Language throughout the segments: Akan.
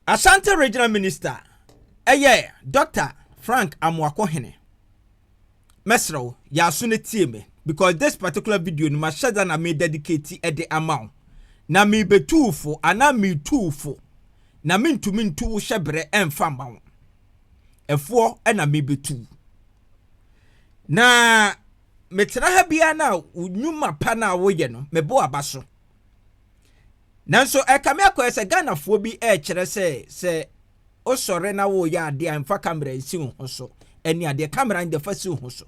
Ashanti Regional Minister yɛ Doctor Frank Amoakohene. Mɛsrɛ wo, yɛ aso na tie me because this particular video no mahyɛ da na me dedicate de ama wo. Na mebetu wo fo anaa metu wo fo na mentumi ntu wo hyɛ berɛ mfa mma wo. Ɛfoɔ na mebetu wo. Na metena ha biara no a wo nnwuma pa no a woyɛ no mebɔ w'aba so. nanso ɛkame akɔyɛ sɛ ghanafoɔ bi ɛrekyerɛ sɛ sɛ wosɔre na woyɛ adeɛ a mfa kamera nsi wo ho so ɛne adeɛ kamera no defa si wo ho so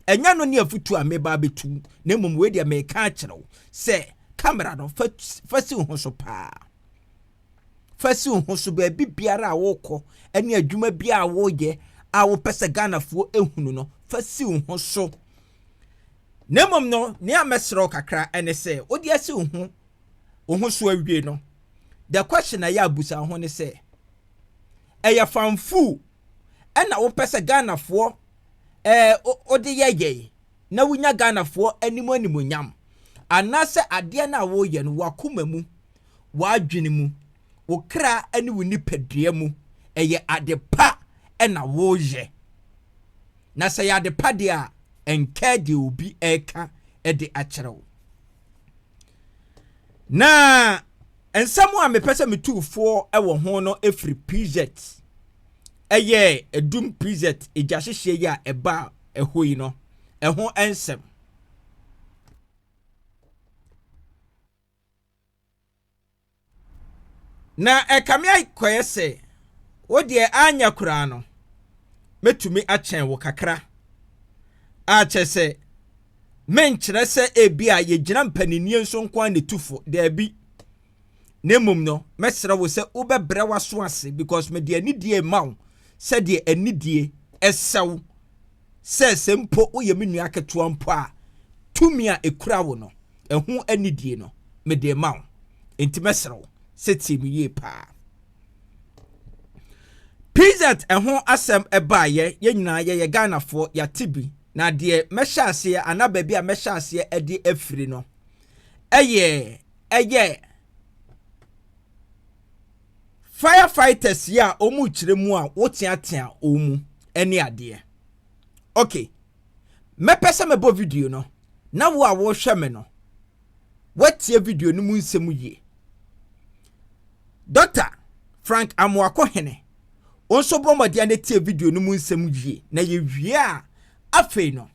ɛnyɛ no ne afutu a meba abɛtu na mmom wei deɛ meka akyerɛ wo sɛ kamera no fa fa si wo ho so paa fa si wo ho so baabi biara a wokɔ ɛne adwuma biara a woyɛ a wopɛ sɛ ghanafoɔ ehunu no fa si wo ho so Na mmom no, nea mɛsrɛ wo kakra ne sɛ wode asi wo ho wo ho so awie no, the question a yɛ abusa ho ne sɛ, ɛyɛ fanfuu ɛna wopɛ sɛ Ghanafoɔ ɛɛ wode yɛ yɛn na wonya Ghanafoɔ anim animonyam anaasɛ adeɛ no a woreyɛ no w'akoma mu, w'adwene mu wo kra ne wo nipadua mu, ɛyɛ ade pa na woreyɛ. Na sɛ ɛyɛ ade pa deɛ a, ɛnkaa deɛ obi reka de akyerɛ wo. Na nsɛm a mepɛ sɛ metu foɔ wɔ ho no firi Prizet, ɛyɛ Edum Prizet egyahyehyeɛ yi a ɛba ɛhɔ yi no, ɛho nsɛm. Na ɛkame akɔyɛ sɛ wo deɛ anyɛ koraa no, mɛtumi akyɛn wo kakra. A kyerɛ sɛ, menkyerɛ sɛ ebi a yɛgyina mpaninnie nso nko ara ne tufo, daabi. Na mmom no, mɛsrɛ wo sɛ wobɛbrɛ w'aso ase because mede anidie rema wo sɛdeɛ anidie ɛsɛ wo. sɛ sɛ mpo woyɛ me nua ketewa mpo a, tumi a ekura wo no, ɛho anidie no, mede rema wo. Enti mɛsrɛ wo sɛ tie me yie paa. PZ ɛho asɛm baeɛ, yɛn nyinaa yɛyɛ Ghanafoɔ, yɛate bi. Na deɛ mɛhyɛ aseɛ anaa baabi a mɛhyɛ aseɛ de afiri no, ɛyɛ ɛyɛ firefighters yi a wɔn rekyerɛ mu a woteatea wɔn mu ne adeɛ ok mɛpɛ sɛ mɛbɔ video no na wo a wɔrehwɛ me no woatie video no mu nsɛm yie dɔkta frank amoako hene wo nso bɔ mmɔden na tie video no mu nsɛm yie na yɛwie a afei no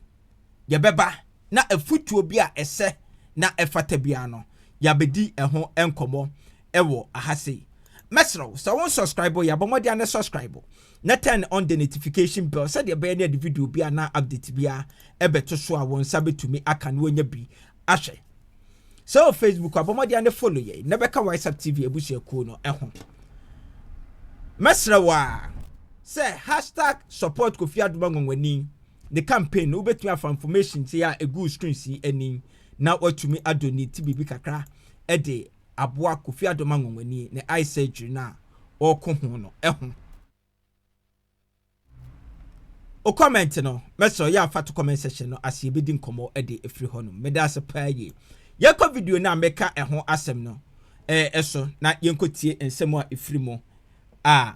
yɛbɛba na afutuo bi a ɛsɛ na ɛfata biara no yɛabɛdi ɛho nkɔmmɔ ɛwɔ aha sei. Mɛsrɛ wo sɛ wo nsɔskraibo yɛ abɔ mmɔden a na sɔskraibo na turn on the notification bell sɛdeɛ ɛbɛyɛ ne ɛde video bi anaa update bi a ɛbɛto so a wɔn nsa bɛtumi aka no wɔnya bi ahwɛ. Sɛ wɔ Facebook abɔ mmɔden a ne follow yɛn na bɛka WhatsApp TV abusuakuo no ho. Mɛsrɛ wo a sɛ hashtag support Kofi Adom Anwanwani ne campaign no wobɛtumi afa information sei a ɛgu screen si ani na watumi adonate biribi kakra de aboa Kofi Adom Anwanwani ne eye surgery no a ɔreko ho no ho. O comment no mɛsrɛ wo yɛ a fa to comment section no ase yɛbɛdi nkɔmmɔ de afiri hɔ nom. Meda ase paa yie. Yɛnkɔ video no a mɛka ɛho asɛm no ɛso na yɛnkɔtie nsɛm a ɛfiri mu a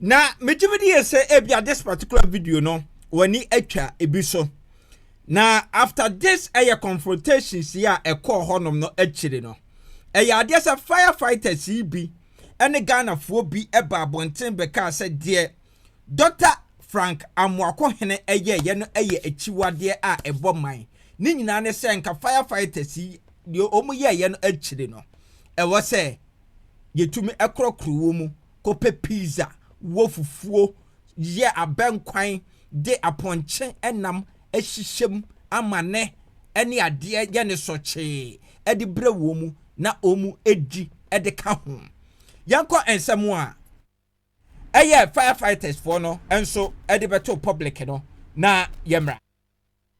na megye me di yɛ sɛ ebia this particular video no w'ani atwa ebi so na after this ɛyɛ confrontations yi a ɛkɔɔ hɔnom no akyire no ɛyɛ adeɛ sɛ firefighters yi bi ɛne ghanafoɔ bi ɛba abɔnten bɛkaa sɛ deɛ dɔkta frank amoako hene ɛyɛɛyɛ no ɛyɛ akyiwadeɛ a ɛbɔ man ne nyinaa ne sɛ nka firefighters yi deɛ wɔn yɛɛyɛ no akyire no ɛwɔ sɛ yetumi korɔkorɔ wɔ mu kɔpɛ pizza wɔ fufuo yɛ abɛnkwan de apɔnkye nam hyehyɛ mu amane ne adeɛ yɛ no sɔkyee de brɛ wɔ mu na wɔn di de ka ho. Yɛnkɔ nsɛm a ɛyɛ firefighters foɔ no nso de bɛto public no na yɛmmra.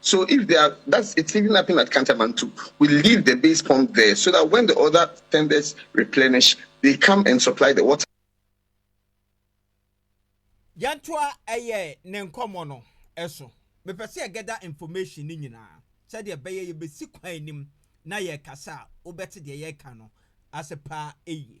So if they are that's it's even happening at Kantamantu we leave the base pump there so that when the other tenders replenish they come and supply the water. Yɛntoa ɛyɛ ne nkɔmmɔ no so. Mepɛ sɛ yɛgɛda information no nyinaa sɛdeɛ ɛbɛyɛ yɛbɛsi kwan anim na yɛrekasa a wobɛte deɛ yɛreka no ase paa yie.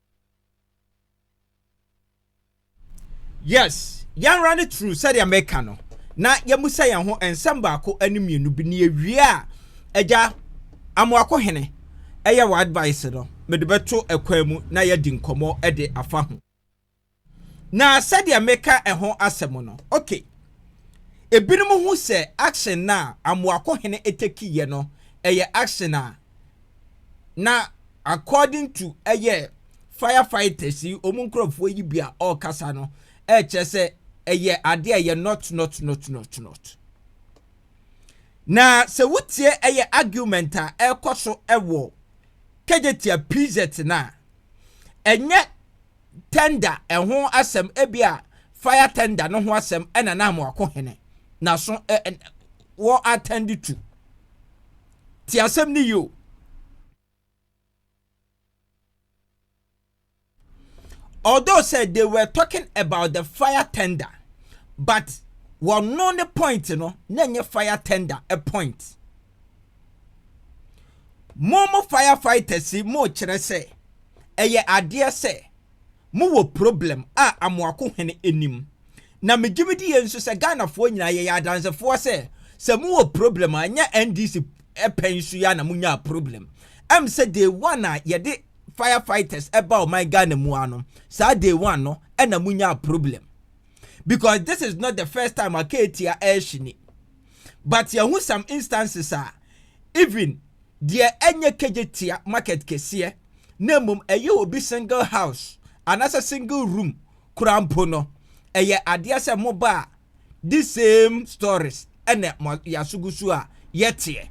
yes yɛnra no true sɛdeɛ mɛka no na yɛmusa yɛn ho nsɛm baako ne mmienu bi ne yɛwie a agya amoako hene ɛyɛ wɔ advice no mede bɛto ɛkwan mu na yɛadi nkɔmmɔ de afa ho Na sɛdeɛ meka ɛho asɛm no, ok, ebinom hu sɛ action no a Amoako hene takiiɛ no ɛyɛ action a na according to ɛyɛ fire fighters yi wɔn nkorɔfoɔ yi bi a ɔrekasa no ɛrekyerɛ sɛ ɛyɛ adeɛ a ɛyɛ not not not not not na sɛ wotie ɛyɛ argument a ɛrekɔ so ɛwɔ Kejetia PZ no a ɛnyɛ tender ɛho asɛm ebia fire tender no ho asɛm ɛna na amoako hene na so ɛ ɛ wɔ attend to ti asɛm ne yio although said they were talking about the fire tender but wɔn no ne point no na nye fire tender a point. Mo mo firefighters yi mo kyerɛ sɛ ɛyɛ adeɛ sɛ mo wɔ problem a Amoako hene anim. Na me gyimi di yɛ nso sɛ Ghana foɔ nyinaa yɛ yɛ adanse foɔ sɛ sɛ mo wɔ problem a nyɛ NDC pɛn so ya na mo nyaa problem. Ɛm sɛ day one a yɛde firefighters ɛba ɔman Ghana mu ano saa day one no ɛna mo nyaa problem. Because this is not the first time a Ketia ɛɛhyini. but yɛahu some instances a even deɛ ɛnyɛ kegye tia market kɛseɛ na mmom ɛyɛ obi single house anaasɛ single room koraa mpo no, ɛyɛ adeɛ sɛ moba a this same stories ɛna mo yɛaso gu so a yɛteɛ.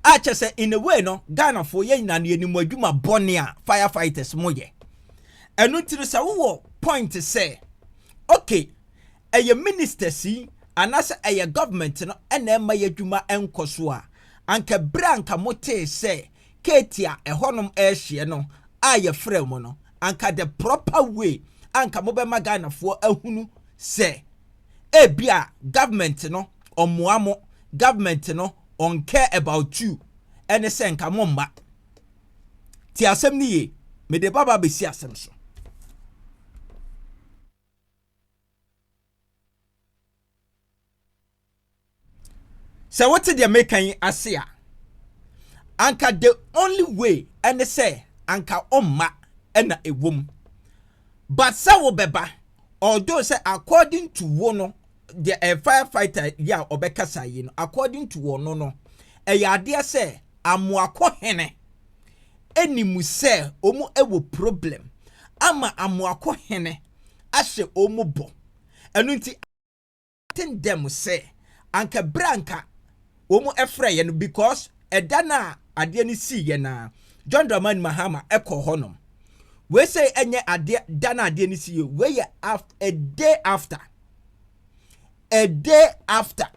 a kyɛ sɛ in a way no ghanafoɔ yɛ nyina no yɛnim adwuma bɔne a fire fighters mo yɛ ɛno nti no sɛ wowɔ point sɛ okay ɛyɛ ministers yi anaasɛ ɛyɛ government no ɛna ɛma yɛ adwuma ɛnkɔ so a anka berɛ a anka motee sɛ keeti a ɛhɔnom ɛrehyeɛ no a yɛfrɛ mo no anka the proper way anka mobɛma ghanafoɔ ahunu sɛ ebi a government no ɔmmoa mo government no ɔn care about you ɛne sɛ nka mo mma ti asɛm no yie mede ba ba bɛsi asɛm so sɛ wote deɛ meka yi ase a anka the only way ɛne sɛ anka ɔmma ɛna ɛwom but sɛ wobɛba although sɛ according to wo no deɛ ɛyɛ firefighter yi a ɔbɛkasa yi no according to wɔn no ɛyɛ adeɛ sɛ amoako hene ɛni mu sɛ wɔn ɛwɔ problem ama amoako hene ahyɛ wɔn bɔ ɛno nti ten dɛm sɛ anka berɛ anka wɔn ɛfrɛ yɛ no because ɛda no a adeɛ no sii yɛ na John Dramani Mahama ɛkɔ hɔ nom wei sɛ ɛnyɛ adeɛ da no adeɛ no sii yɛ wei yɛ a day after a day after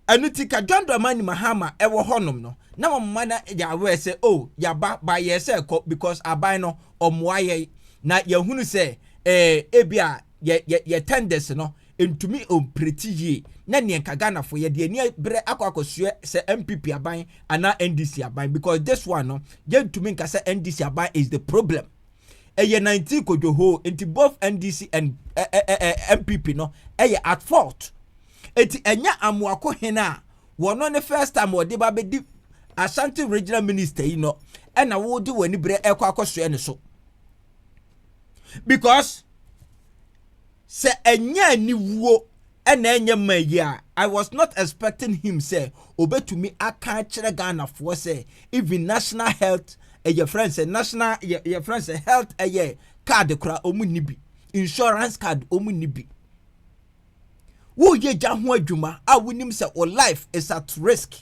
ɛno ti ka john dramani mahama ɛwɔ hɔnom no na wɔn mma na yɛ aware sɛ o oh, yaba ba yɛ sɛ ɛkɔ because aban no ɔmoa yɛ na yɛhunu sɛ ɛɛ eh, ebi a yɛ yɛ yɛ tenders no ntumi ɔmpreti yie na neɛ nka ghanafo yɛde ani berɛ akɔ akɔsoɛ sɛ mpp aban anaa ndc aban because this one no yɛntumi nka sɛ ndc aban is the problem ɛyɛ 19 kodwohoo nti both ndc and eh, eh, eh, eh mpp no ɛyɛ at fault nti ɛnyɛ amoako hen a wɔn ne first time wɔde ba bɛdi ashanti regional minister yi no ɛna wɔde wɔn ani berɛ ɛkɔ akɔsoɛ ne so because Sɛ ɛnyɛ aniwuo na ɛnyɛ ma yi a, I was not expecting him sɛ ɔbɛtumi aka akyerɛ Ghanafoɔ sɛ even national health yɛfrɛ no sɛ national yɛfrɛ no sɛ health ɛyɛ card koraa wɔn nni bi, insurance card wɔn nni bi. Woyɛ gya ho adwuma a wonim sɛ wo life is at risk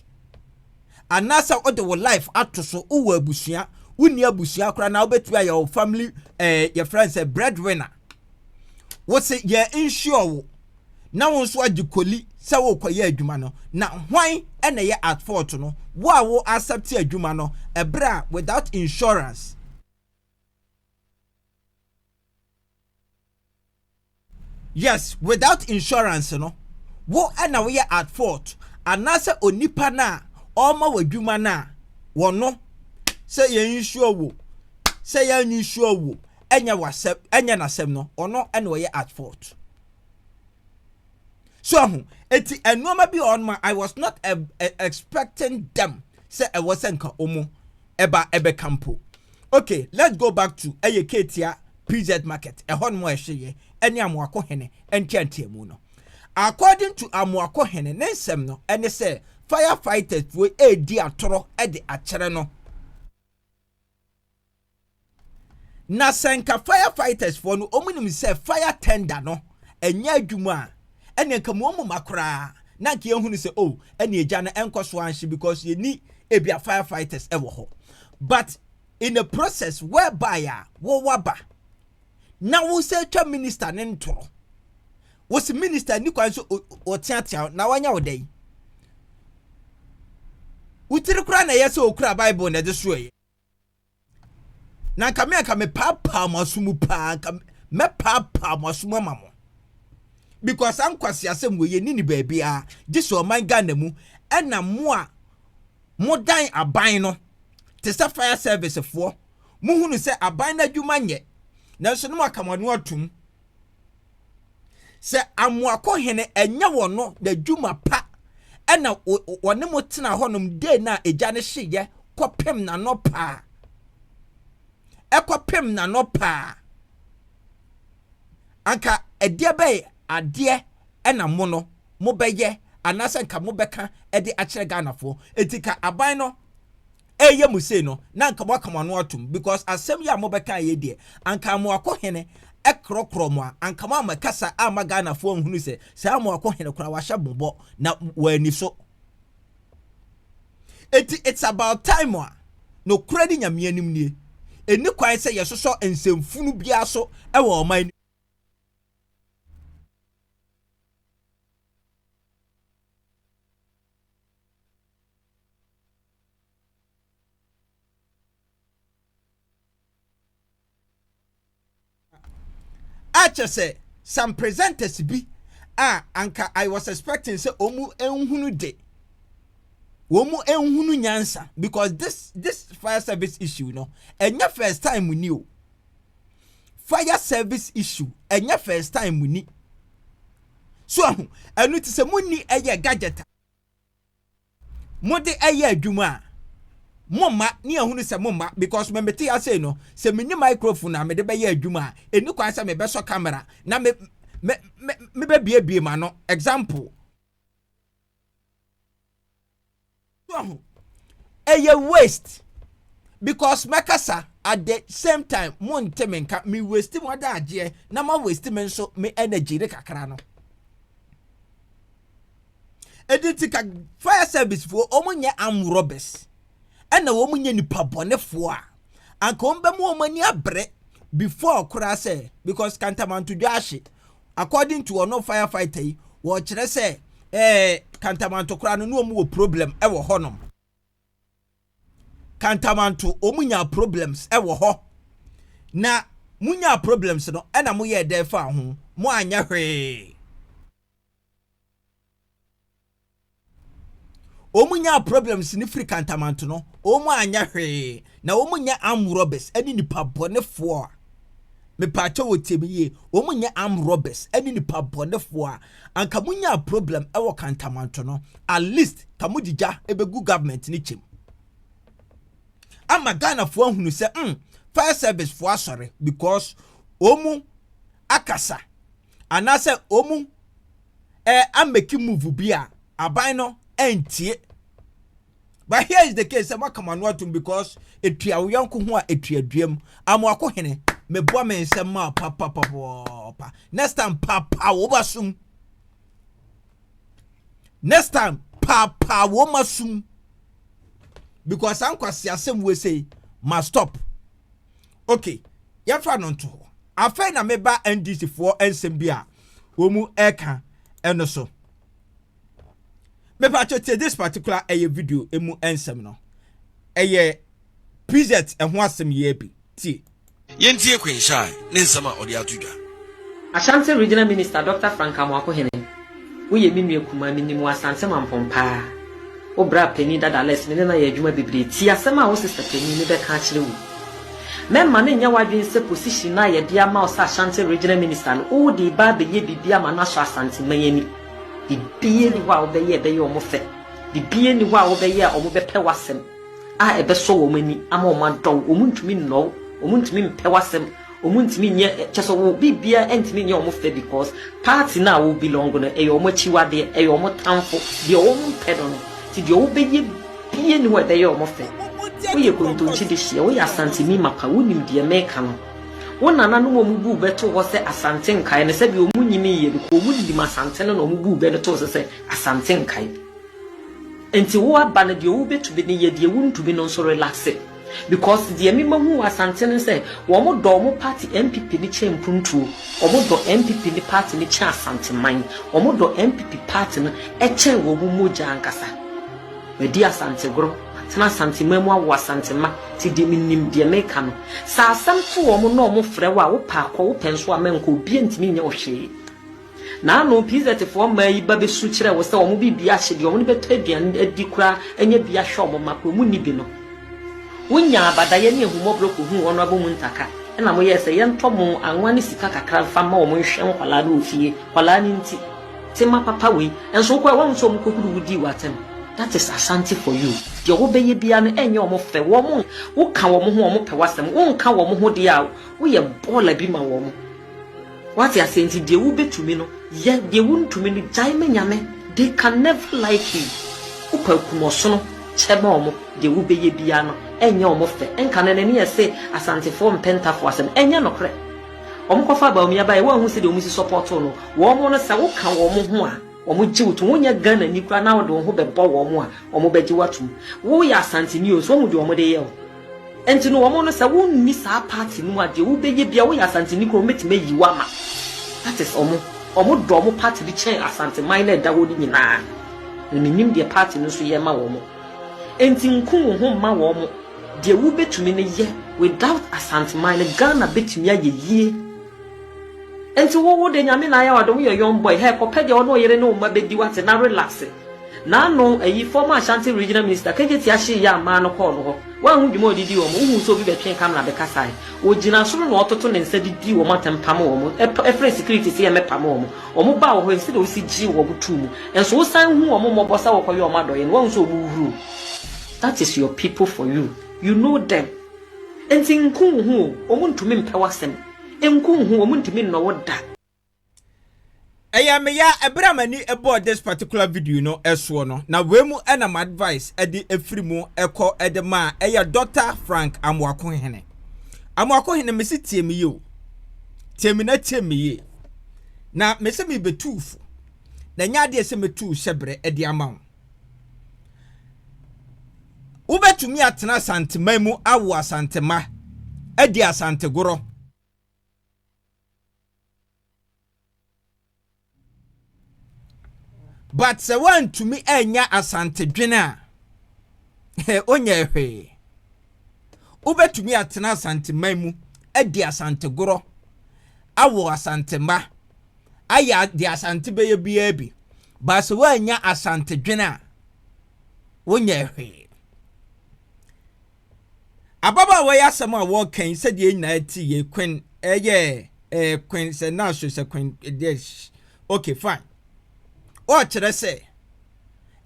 anaasɛ wode wo life ato so wowɔ abusua wonni abusua koraa na wobɛtumi ayɛ wo family ɛɛ yɛfrɛ no sɛ breadwinner. Wo se yɛ nhyia wo na wo nso agye koli sɛ worekɔyɛ adwuma no, na hwan na ɛyɛ at fault no? Wo a wo accept adwuma no ɛberɛ a without insurance. Yes, without insurance no, wo na woyɛ at fault anaasɛ onipa no a ɔrema w'adwuma no a wɔno sɛ yɛ insure wo sɛ yɛ insure wo ɛnyɛ wasɛm ɛnyɛ n'asɛm no ɔno ɛna ɔyɛ at fault so ahu eti nneɛma bi ɔno ma i was not a, a, expecting them sɛ ɛwɔ sɛ nka ɔmo ɛba ɛbɛka mpo okay let's go back to ɛyɛ ketia pz market ɛhɔ nom a ɛhye yɛ ɛne amoako hene nteanteamu no according to amoako hene ne nsɛm no ɛne sɛ firefighters fo ɛredi atoro ɛde akyerɛ no Na sɛ nka fire fighters foɔ no wɔn nim sɛ fire tender no ɛnyɛ adwuma a ɛne nka mu wɔn ma koraa na nka yɛn hunu sɛ oh ɛne egya no ɛnkɔ so anhye because yɛn ni ebi a fire fighters ɛwɔ hɔ but in a process whereby a wɔwaba na wosɛ twa minister ne ntoro wosi minister ni kwan so ɔteatea na wanya wo dɛn wotiri koraa na ɛyɛ sɛ okura bible na ɛde soɛ na nka me anka mepaapaa mo aso mu paa nka mɛpaapaa mo aso mu ama mo because saa nkwasi asɛm wɔ yɛni ne baabiara gye sɛ ɔman ghana mu ɛna mo a modan aban no te sɛ fire service foɔ mohunu sɛ aban no adwuma nyɛ nanso no mo aka mo ano atom sɛ amoako hene ɛnyɛ wɔn no n'adwuma pa ɛna wɔne mo tena hɔnom dee no a egya no hyeyɛ kɔpem n'anɔ paa ɛkɔpem n'anɔ paa anka ɛdeɛ bɛyɛ adeɛ ɛna mo no mobɛyɛ anaasɛ nka mobɛka ɛde akyerɛ Ghanafoɔ eti ka aban no ɛɛyɛ mo sei no na anka moaka mo ano atom because asɛm yi a mobɛkaeɛ yi deɛ anka Amoako hene korɔkorɔ mo a anka moammɛkasa amma Ghanafoɔ anhunu sɛ saa Amoako hene koraa wahyɛ mo bɔ na wɔanni so. Enti it's about time a nokorɛ ne Nyame anim nie. Ɛnni kwan sɛ yɛsosɔ nsɛmfunu biara so wɔ ɔman no kyerɛ sɛ some presenters bi a anka I was expecting sɛ wɔn nhunu de wɔn nhunu nyansa because this this fire service issue no ɛnyɛ first time ni o fire service issue ɛnyɛ first time ni so ahu ɛnu ti sɛ mu ni ɛyɛ gadget. mode ɛyɛ adwuma a momma ne ahunu sɛ momma because me mete ase no sɛ menni microphone a mede bɛyɛ adwuma a ɛni kwan sɛ mebɛsɔ camera na me me me mebɛbiebie ma no example ɛyɛ waste because mɛkasa at the same time mo nte me nka me waste mo adagyeɛ na ma waste me nso me energy ne kakra no ɛdi nti ka fire service foɔ wɔn nyɛ arm robbers ɛna wɔn nyɛ nipa bɔnefoɔ a anka wɔn bɛma wɔn ani abere before koraa sɛ because kantamantodwa ahye according to ɔno firefighter yi wɔkyerɛ sɛ ɛɛ kantamanto koraa no ne wɔn wɔ problem ɛwɔ hɔnom kantamanto wɔn nya problems ɛwɔ hɔ na mo nya problems no ɛna mo yɛ ɛdɛn fa ho mo anyɛ hwee. Wɔn nyaa problems no firi kantamanto no wɔn anyɛ hwee na wɔn nyɛ arm robbers ɛne nipa bɔnefoɔ a mepaakyɛ wɔ tie me yie wɔn nyɛ arm robbers ɛne nipa bɔnefoɔ a anka mo nyaa problem ɛwɔ kantamanto no at least ka mo gyigya ɛbɛgu government ne kyɛm ama Ghanafoɔ ahunu sɛ mm fire service foɔ asɔre because wɔn akasa. anaasɛ wɔn eh, ameki move bi a aban no antie but here is the case sɛ moaka mo ano atom because ɛtua wo yɔnko ho a ɛtua duam amoako hene mebɔ me nsɛm ma papapapapa next time papa wo ba sum next time papa wo ma sum because ankwasi asɛm wei sei ma stop Okay, yɛmfa no nto hɔ. Afei na meba NDC foɔ nsɛm bi a wɔn mu ɛka ɛno so. Mepa kyɛ tie this particular ɛyɛ video emu nsɛm no. Ɛyɛ PZ ɛho asɛm yɛ bi tie. Yɛntie Queen Shine ne nsɛm a ɔde ato dwa. Ashanti Regional Minister Doctor Frank Amoako Hene Woyɛ me nua kumaa, minim wo Asante Mampong paa. Wo bra panin dada Alex, me ne no ayɛ adwuma bebree. Tie asɛm a wo sista panin no bɛka akyerɛ wo yi. Mɛmma no nnyɛ w'adwene sɛ position no a yɛde ama wo sɛ Ashanti Regional Minister no, wode reba abɛyɛ biribi ama no asɔ Asanteman ani. Biribiara nni hɔ a wobɛyɛ a ɛbɛyɛ wɔn fɛ. Biribiara nni hɔ a wobɛyɛ a wɔbɛpɛ w'asɛm a ɛbɛsɔ wɔn ani ama wɔadɔ wo. Wɔntumi nnɔ wo, wɔntumi mpɛ w'asɛm. Ɔmo ntumi nyɛ kyɛ sɛ ɔmo biribiaa ntumi nyɛ ɔmo fɛ because party no a ɔmo belong no ɛyɛ ɔmo akyiwadeɛ ɛyɛ ɔmo tamfo deɛ ɔmo mpɛ no no nti deɛ ɔmo bɛyɛ bia nni hɔ a ɛbɛyɛ ɔmo fɛ woyɛ kontonkye de hyeɛ woyɛ asanteni mapa wonim deɛ meka no wo nananom a ɔmo buu bɛ too hɔ sɛ asante nkae no sɛdeɛ ɔmo nyiniiɛ no kɔ ɔmo nim asante no na ɔmo buu bɛ no too sɛ sɛ asante nkae nti wo aba no deɛ wobɛtumi no yɛ deɛ wontumi no nso relaxe. Because deɛ me ma hu wɔ Asante ne sɛ wɔn dɔ wɔn party NPP no kyɛn mpuntuo, wɔn dɔ NPP no party no kyɛn Asanteman, wɔn dɔ NPP party no kyɛn wɔn mogya ankasa. Madi Asante goro, matena Asanteman mu awo Asantema ti de me nim deɛ me ka no. Sɛ asɛm to wɔn na wɔn frɛ wo a wo pɛ a kɔ, wo pɛ nso a mɛnkɔ, obiara ntumi nyɛ wo hwee. Naano PZfoɔ mmaa yi ba bɛsu kyerɛ wo sɛ wɔn biribi ahye deɛ wɔn no bɛtɔ aduan adi koraa nyɛ bi ahwɛ wɔn mma koraa wɔn nni bi no. Wonyaa abadaeɛ ne ahummɔborɔ kɔhuu wɔn abɔ mu ntaka ɛna moyɛɛ sɛ yɛntɔ mo anwa ne sika kakra mfa mma wɔn nhwɛ nkwadaa no wɔ fie. Nkwadaa no nti. Tema papa wei. Nso wokɔɛ woahu sɛ wɔn kɔhuru wo dii w'atɛm. That is Asante for you. Deɛ wobɛyɛ biara no ɛnyɛ wɔn fɛ. Wɔn, woka wɔn ho wɔn pɛ w'asɛm. Wonka wɔn ho deɛ a woyɛ bɔɔla bi ma wɔn. Wate aseɛ nti deɛ wo bɛ tumi no yɛ deɛ wo ntumi no gyae ma nyame they can never like you wo pa kum ɔsono kyɛ ma ɔmo deɛ wo bɛ yɛ biara no ɛnyɛ ɔmo fɛ nka no nani ɛse asantefoɔ mpɛ ntafo asɛm ɛnyɛ nokorɛ ɔmo kɔ fa baomia baɛ wo ahu sɛ deɛ ɔmo si sɔpɔto no wɔn no sɛ wo ka wɔn ho a wɔn gye wo to wɔn nyɛ Ghana ni kura na wɔde wɔn ho bɛ bɔ wɔn a wɔn bɛ gye wo atum wo yɛ asante ni o so wɔn deɛ wɔn de yɛ o. Ɛnti no wɔn no sɛ wo nni saa party no mu a deɛ wo bɛ yɛ biara wo yɛ Asanteni koraa wɔn bɛtumi ayi wo ama. That is wɔn. Wɔn dɔ wɔn party no kyɛn Asanteman no a ɛda hɔ no nyinaa. Na me nim deɛ party no nso yɛ ma wɔn. Ɛnti nku wo ho mma wɔn. Deɛ wo bɛtumi no yɛ. Without Asanteman no Ghana bɛtumi ayɛ yie. Enti wo wo de Nyame na ayɛ wo ade wo yɛ young boy hɛ kɔpɛ deɛ ɔne ɔyere ne wo mma bɛdi wate na relaxe N'ano ayi former Ashanti regional minister KJT Ahyee yɛ amaa no kɔɔ no hɔ woanhu dwuma a ɔde dii wɔn wohuu sɛ obi bɛtwee camera bɛkasaeɛ ɔgyina soro na ɔtoto ne nsa de dii wɔn atɛm pamo wɔn ɛtɔ ɛfrɛɛ security sɛ yɛmmɛpamo wɔn wɔn baa wɔ hɔ ɛnsɛ deɛ wosi gyee wɔn too mu nso wosan hu wɔn mmɔbɔ sɛ wɔkɔyɛ wɔn adɔeɛ no woahu sɛ wɔn huruu that is your people for you you know them enti nku wo ho o wɔn ntumi mpɛ w'asɛm Nko nhu wɔn ntumi nnɔ wo da. Ɛyɛ me ya ɛberɛ a m'ani bɔɔ this particular video no soɔ no na wei mu na m'advice ɛde ɛfiri mu ɛkɔ ɛde ma a ɛyɛ Doctor Frank Amoakohene Amoakohene mese tie me yie o tie me na tie me yie na mese mebɛtuu fo na ɛnyɛ adeɛ sɛ mɛtuu hyɛberɛ ɛde ama wo Wobɛtumi atena Asanteman mu awo Asantema, adi Asantegorɔ. But sɛ woantumi anya Asantedwene a, wonyɛ hwee. Wobɛtumi atena Asanteman mu adi Asantegorɔ, awo Asantema, ayɛ deɛ Asante bɛyɛ biara bi, but sɛ woannya Asante dwene a, wonyɛɛ hwee. Ababaawa yi asɛm a wɔreka yi sɛdeɛ yɛn nyinaa ti yɛ Queen ɛyɛ ɛɛ Queen sɛ naaso sɛ Queen deɛ okay fine. Ɔrekyerɛ sɛ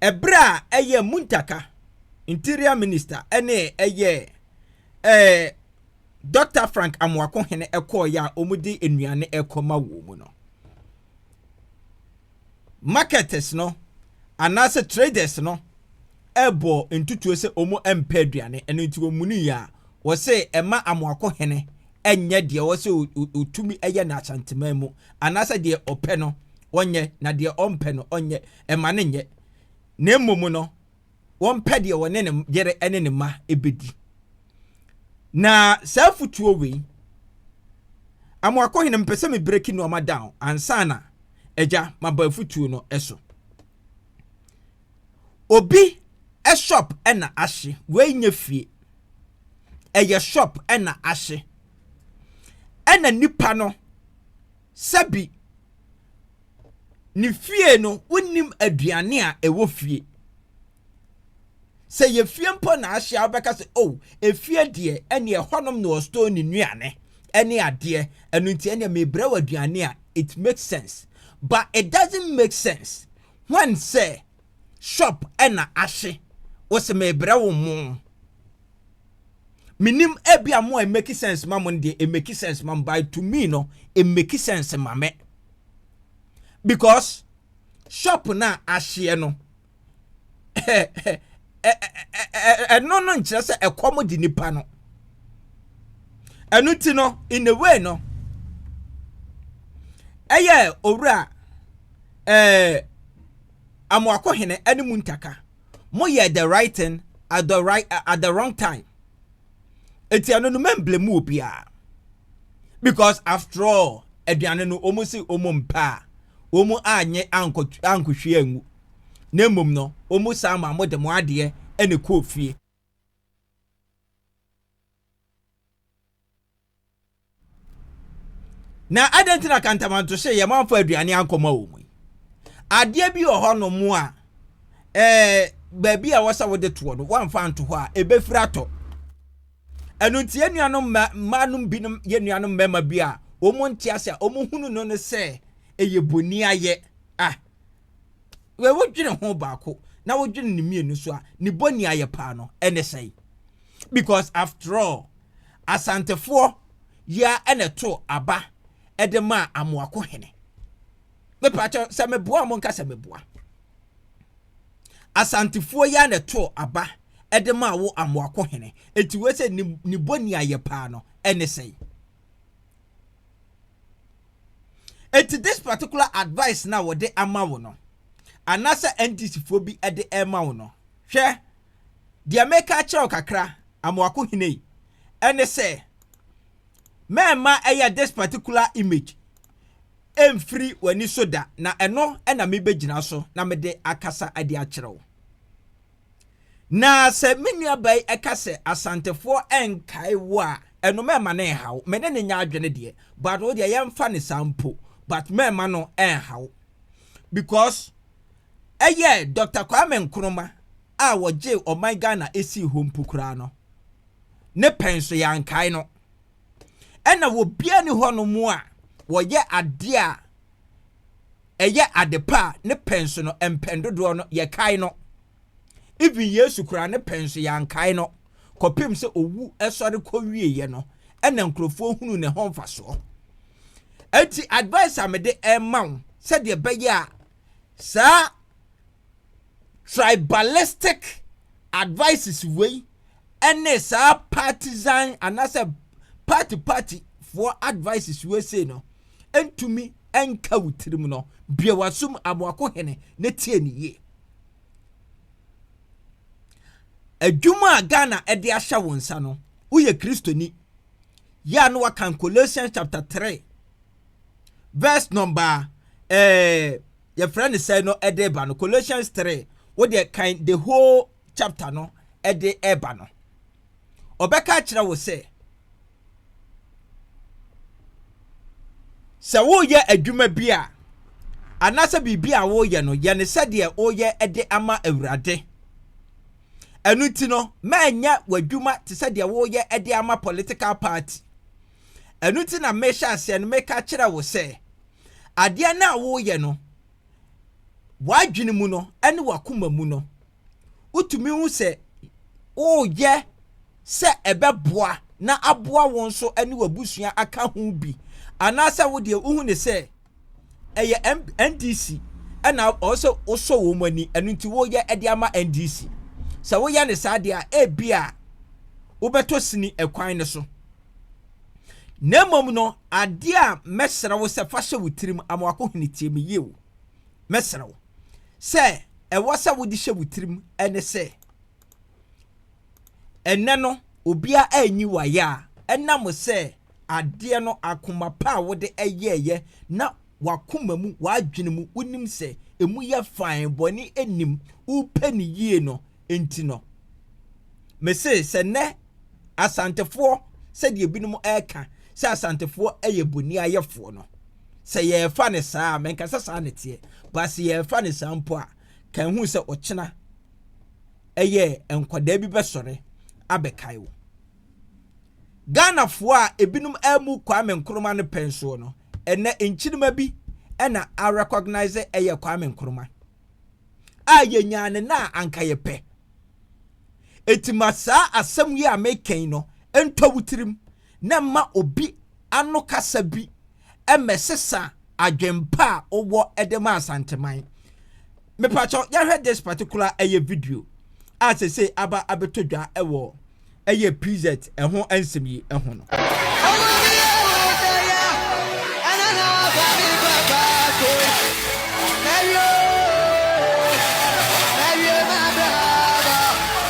ɛberɛ a ɛyɛ Muntaka interior minister ɛne ɛyɛ Ɛɛ, Dɔkta Frank Amoako Hene kɔeɛ a wɔde nnuane rekɔma wɔn no, marketers no anaasɛ traders no bɔ ntutuo sɛ wɔmpɛ aduane, ɛno nti wɔmuniiɛ a, wɔse ɛma Amoako Hene nyɛ deɛ ɔwɔ sɛ ɔtumi yɛ no Asanteman mu, anaasɛ deɛ ɔpɛ no ɔnyɛ na deɛ ɔmpɛ no ɔnyɛ, ɛma no nyɛ, na mmom no. wɔmpɛ deɛ wɔne ne yere ne ne mma bɛdi na saa afutuo wei amoakohene mpɛ sɛ mebreki nnoɔma down ansa na agya maba afutuo no so obi shop na ahye wei nyɛ fie ɛyɛ shop na ahye ɛna nipa no sɛ bi ne fie no wonnim aduane a ɛwɔ fie sɛ yɛ fie mpo na ahyɛ a wobɛka sɛ oh efie deɛ ɛne ɛhɔnom na ɔstore ne nnuane ɛne adeɛ ɛno nti ɛne mebrɛ wɔ aduane a it makes sense but it doesn't make sense when sɛ shop ɛna ahye wɔ sɛ mebrɛ wo mo menim ebi a mo a it make sense ma mo deɛ it make sense ma by to me no it make sense ma me because shop na ahyeɛ no ɛno no nkyerɛ sɛ ɛkɔm de nipa no ɛno ti no in a way no ɛyɛ owura ɛɛ amoakohene ɛne mu ntaka. mo yɛɛ the right thing at the right uh, at the wrong time eti ɛno no mɛmble mu obiara because after all aduane no wɔn si wɔn mpa a wɔn anyɛ ankɔ ankɔhwie angu na mmom no wɔn san ma mo de mo adeɛ ɛna kɔɔ fie. na adɛn nti na kantamantohye yɛ mamfa aduane ankɔma wɔn yi adeɛ bi wɔ hɔ no mu a ɛɛ baabi a wɔsɛ wɔde toɔ no wɔamfa nto hɔ a ɛbɛfiri atɔ ɛno nti yɛn nuanom mmaa no binom yɛn nuanom mmarima bi a wɔn nte ase a wɔn hunu no no sɛ ɛyɛ boni ayɛ ah Wei dwene ho baako na wodwene ne mmienu so a, ne bɔni ayɛ paa no ɛne sɛn? Because after all, Asantefoɔ yi ara ɛna ɛtoo aba ɛde maa Amoako hene. Mepaakyɛ sɛ meboa mo nka sɛ meboa. Asantefoɔ yi ara na ɛtoo aba ɛde maa wo Amoako hene. Eti wei sɛ ne bɔni ayɛ paa no ɛne sɛn? Eti this particular advice na wɔde ama wo no, anaasɛ NDC foɔ bi de ɛrema wo no, hwɛ, deɛ meka akyerɛ wo kakra, Amoako hene yi, ɛne sɛ, mɛmma ɛyɛ this particular image ɛmfiri w'ani so da, na ɛno na mebɛgyina so na mede akasa de akyerɛ wo. Na sɛ me nuabaa yi ɛka sɛ Asantefoɔ ɛnkae wo a, ɛno mɛmma no ɛnha wo. Me ne no nyɛ adwene deɛ, but wo deɛ yɛmfa no saa mpo, but mɛmma no ɛnha wo. Because ɛyɛ Doctor Kwame Nkrumah a wɔgyee ɔman Ghana ɛsii hɔ mpo koraa no, ne pɛn so yɛankae no. ɛna obiara ni hɔ nom a wɔyɛ adeɛ a ɛyɛ ade pa a ne pɛn so no mpɛn dodoɔ no yɛkae no even yesu koraa ne pɛn so yɛankae no kɔpem sɛ owu ɛsɔre kɔwieɛ no ɛna nkurɔfoɔ hunu ne ho mfasoɔ ɛnti advice a mede ɛma wo sɛdeɛ bɛyɛ a saa tribalistic advices wei ɛne saa partisan anaasɛ party party foɔ advices wei sei no ntumi nka wo tirim no bue w'asom amoako hene ne tie ne yie adwuma a ghana ɛde ahyɛ wo nsa no woyɛ kristoni yɛ a no wakan colossians chapter 3 verse number eh, yɛfrɛ no sɛn no de reba no colossians 3 wo deɛ kan the whole chapter no de reba no ɔbɛka akyerɛ wo sɛ sɛ woyɛ adwuma bi a anaasɛ biribi a woyɛ no yɛ ne sɛdeɛ woyɛ de ama awurade ɛno nti no mɛnyɛ w'adwuma te sɛ deɛ woyɛ de ama political party Ɛno nti na mehyɛ aseɛ no meka kyerɛ wo sɛ, adeɛ no a woreyɛ no, w'adwene mu no ne w'akoma mu no, wotumi hu sɛ woreyɛ sɛ ɛbɛboa na aboa wo nso ne w'abusua aka ho bi, anaasɛ wo deɛ wohu ne sɛ, ɛyɛ ndc ɛna ɔsɛ wosɔ wɔn ani ɛno nti woyɛ ɛde ama ndc sɛ woyɛ ne saa deɛ a ebi a wobɛtɔ sini ɛkwan no so na mmom no adeɛ a mɛsrɛ wo sɛ fa hyɛ wo tirim amoako hene tie me yie o mɛsrɛ wo sɛ ɛwɔ sɛ wode hyɛ wo tirim ɛne sɛ Ɛnnɛ no, obiara nyi wo ayɛ a ɛnam sɛ adeɛ no akoma pa a wode yɛeɛ na w'akoma mu, w'adwene mu, wonim sɛ emu yɛ fann, bɔne nnim, wopɛ no yie no nti no. Mese sɛ nnɛ Asantefoɔ sɛdeɛ binom ɛreka sɛ Asantefoɔ yɛ boniayɛfoɔ no, sɛ yɛrefa no saa a, menkasa saa na ɛteɛ, but sɛ yɛrefa no saa mpo a, Kan hu sɛ ɔkyena ɛyɛ nkwadaa bi bɛsɔre abɛkae wo. Ghanafoɔ a ebinom amu Kwame Nkrumah no pɛn soɔ no, ɛnɛ nkyirima bi na a recognise ɛyɛ Kwame Nkrumah a yɛnyaa ne na a anka yɛpɛ. Eti ma saa asɛm yi a mekɛn no ntɔ wo tirim na mma obi ano kasa bi mmɛsesa adwen pa a wowɔ de ma Asanteman. Mepakyɛw yɛhwɛ this particular ɛyɛ video a sesei aba abɛtɔ dwa wɔ ɛyɛ PZ ɛho nsɛm yi ho no.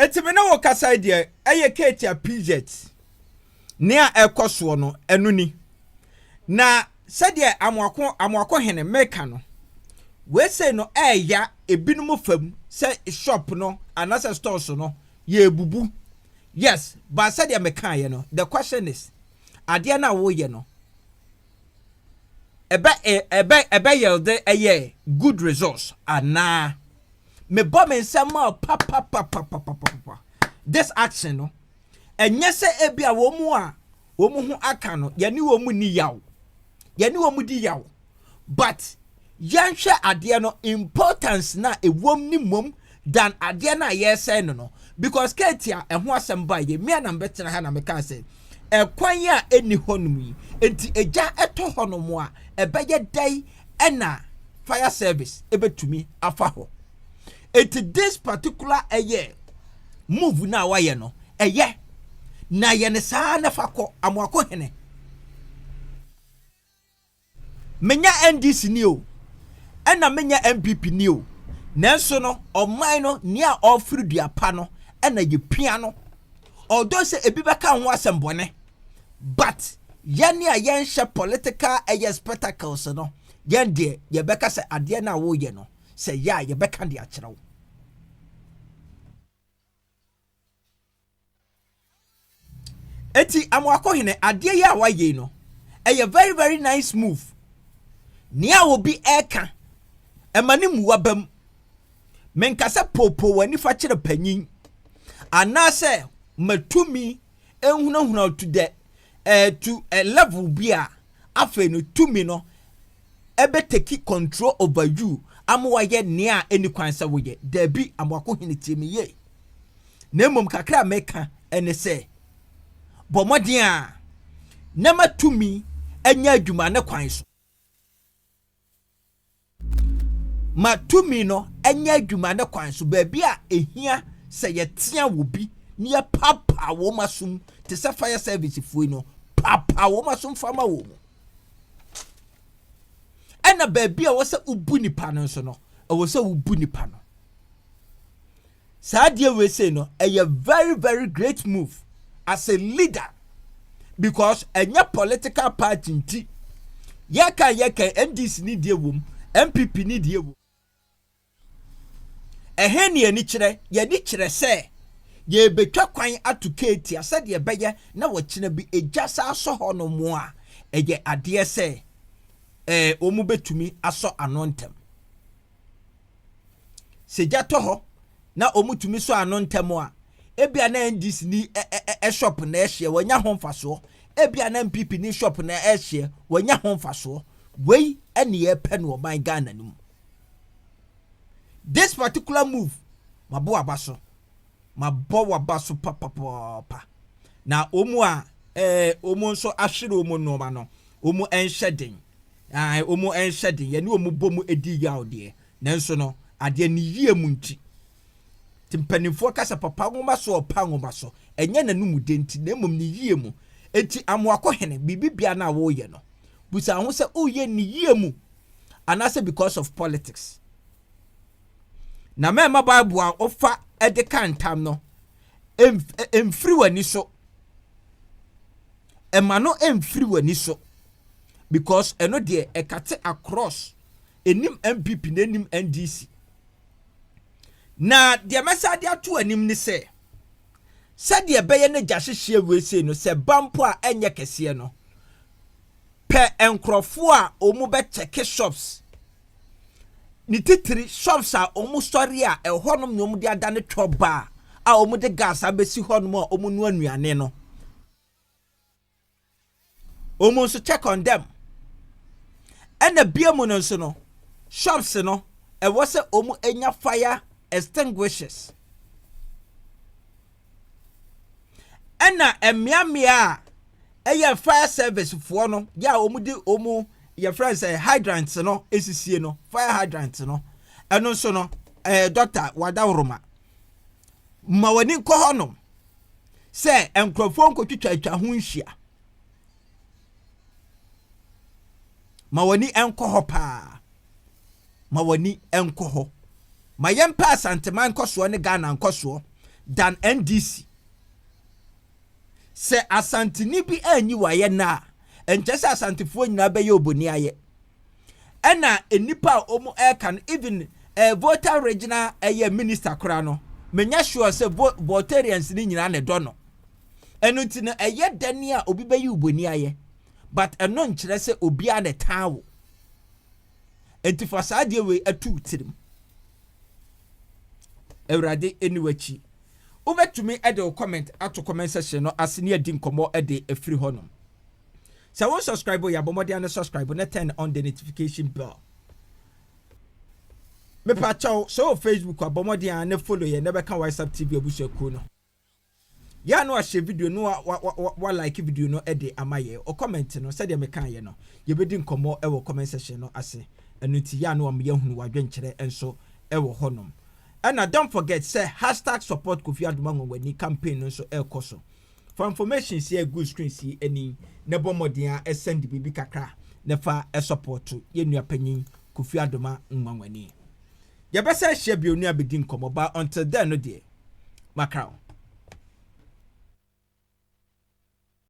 Eti me ne wo kasa yi deɛ ɛyɛ Katie Appijet nea ɛkɔ soɔ no ɛno ni na sɛdeɛ amoako amoako hene meka no wese no ɛɛya ebinom fam sɛ shop no anasɛ stores no yɛɛbubu yes ba sɛdeɛ mekaeɛ no the question is adeɛ no a woreyɛ no ɛbɛ ɛbɛ ɛbɛ yɛlde ɛyɛ good results anaa mebɔ me nsɛm ma papapapapapapa this action no ɛnyɛ sɛ ebi a wɔn mu a wɔn ho aka no yɛne wɔn mu ni yaw yɛne wɔn mu di yaw. but yɛnhwɛ adeɛ no importance no a ɛwom ne mmom dan adeɛ no a yɛresɛe no no because Kate a ɛho asɛm baa yɛ mmea na mbɛtena ha na mekaa sɛ ɛkwan a ɛni hɔ nom yi nti ɛgya ɛtɔ hɔ nom a ɛbɛyɛ dɛn ɛna fire service ɛbɛtumi afa hɔ ɛti this particular ɛyɛ move no a wayɛ no ɛyɛ na yɛ ne saa na fa kɔ amoako hene Menyɛ NDC ni o, ɛna menyɛ NPP ni o, nanso no ɔman no nea ɔreforo dua pa no na yɛpia no. Although sɛ ebi bɛka ho asɛm bɔne, but yɛn a yɛnhyɛ political ɛyɛ spectacles no, yɛn deɛ yɛbɛka sɛ adeɛ no a woreyɛ no, sɛ yɛ a yɛbɛka de akyerɛ wo. Eti Amoako hene, adeɛ yi a wayɛ yi no, ɛyɛ very very nice move. Nea obi ɛka, ɛma ne mua bam. Menka sɛ poopoo w'ani fa kyerɛ panyin, anaasɛ ma tumi nhunahuna wo to the eh, to a level bi a afei no tumi no ɛbɛ take control over you ama wayɛ nea ɛnni kwan sɛ woyɛ. Daabi, Amoako hene tie me yie. Na mmom kakra a mɛka ɛne sɛ, bɔ mmɔden a na matumi anya adwuma ne kwan so. Ma tumi no nyɛ adwuma ne kwan so baabi a ɛhia sɛ yɛtea wɔ bi na yɛpaapaa wɔn asom te sɛ fire service foɔ yi no, paapaa wɔn asom fa ma wɔn. ɛna baabi a ɛwɔ sɛ wobu nipa no nso no ɛwɔ sɛ wobu nipa no saa adeɛ wei sei no ɛyɛ very very great move as a leader because ɛnyɛ political party nti yɛka yɛka ndc ne deɛ wom npp ne deɛ wom. Ɛhe ne anikyerɛ? Yɛn ani kyerɛ sɛ yɛrebɛtwa kwan ato Katia sɛdeɛ ɛbɛyɛ na ɔkyena bi gya san asɔ hɔnom a, ɛyɛ adeɛ sɛ ɛɛ wɔbɛtumi asɔ ano ntɛm. Sɛ gya tɔ hɔ na wɔtumi sɔ ano ntɛm a, ebia na NDC ni ɛ, ɛ, ɛ, ɛ shop na ɛhyeɛ, wɔanya ho mfasoɔ. Ebia na NPP ni shop na ɛhyeɛ, wɔanya ho mfasoɔ. Wei ne yɛpɛ no ɔman Ghana no mu. This particular move mabɔ waba so mabɔ waba so papapapa na wɔn a ɛɛ wɔn nso ahwere wɔn nneɛma no wɔn nhyɛ den ɛɛ wɔn nhyɛ den yɛne wɔn bɔ mu edi yaw deɛ nanso no adeɛ ne yie mu nti te mpanimfoɔ kasa papa nwoma so ɔpa nwoma so ɛnyɛ n'anum den ti na mmom ne yie mu eti amoakɔ hene biribi bia na wɔreyɛ no busa ho sɛ ɔreyɛ ne yie mu. anaasɛ because of politics. Na mɛmma Bible a wofa de ka ntam no mfiri w'ani so. Ɛma no mfiri w'ani so because ɛno deɛ ɛkate across ɛnim NPP na ɛnim NDC. Na deɛ mɛsa de ato anim ne sɛ sɛdeɛ ɛbɛyɛ no gya hyehyeɛ wei sei no sɛ ba mpo a ɛnyɛ kɛseɛ no pɛ nkorɔfoɔ a ɔmo bɛ kyɛke shops ne titiri shops a ɔmo sɔre a ɛhɔ nom na ɔmo de adane twɔ bar a ɔmo de gas abɛsi hɔ nom a ɔmo noa nnuane no ɔmo nso check on them ɛna bia mu no nso no shops no ɛwɔ sɛ ɔmo nya fire extinguishers. Ɛna mmea mmea a ɛyɛ fire service foɔ no yɛ a wɔn de wɔn yɛfrɛ sɛ hydrant no esisie no fire hydrant no ɛno nso no ɛɛ eh, dɔkta wadaworoma ma wɔn ani nkɔ hɔ nom sɛ nkurɔfoɔ nkotwitwa atwa ho nhyia. ma w'ani nkɔ hɔ paa ma w'ani nkɔ hɔ ma yɛmpɛ asanteman nkɔsoɔ ne ghana nkɔsoɔ dan ndc sɛ asanteni bi anyi wayɛ na a ɛnkyɛ sɛ asantefoɔ nyinaa bɛyɛ oboni ayɛ ɛna nnipa a wɔn ɛka no even eh, voter regional ɛyɛ eh, minister koraa no menyɛ sure sɛ votarians no nyinaa na ɛdɔ no ɛno nti no ɛyɛ dɛn a obi bɛyi wo bɔni ayɛ but ɛno nkyerɛ sɛ obiara na ɛtaa wo nti fa saa adeɛ wei atu wo tirim awurade ɛni w'akyi wobɛtumi ɛde wo comment ato comment section no ase ne adi nkɔmmɔ ɛde ɛfiri hɔ nom sɛ wo subscribe yɛ abɔmmɔden ano subscribe na turn on the notification bell mepakyɛw sɛ wɔ facebook abɔmmɔden a ne follow yɛ na bɛka whatsapp tv abusuakuo no Yɛ a na wahyɛ video no wa wa wa wa like video no de ama yɛ o comment no sɛdeɛ mekaa yɛ no yɛbɛdi nkɔmmɔ wɔ comment section no ase ɛno nti yɛ a na wama yɛahunu wadwenkyerɛ nso wɔ hɔnom ɛna don't forget sɛ hashtag support Kofi Adoma Nwanwani campaign no nso ɛrekɔ so fa information si ɛgu screen si ani na bɔ mmɔden a ɛsɛnde biribi kakra na fa support yɛ nua panyin Kofi Adoma Nwanwani yɛbɛsɛ ahyia bio ne abɛdi nkɔmmɔ ba until then no deɛ Makraw.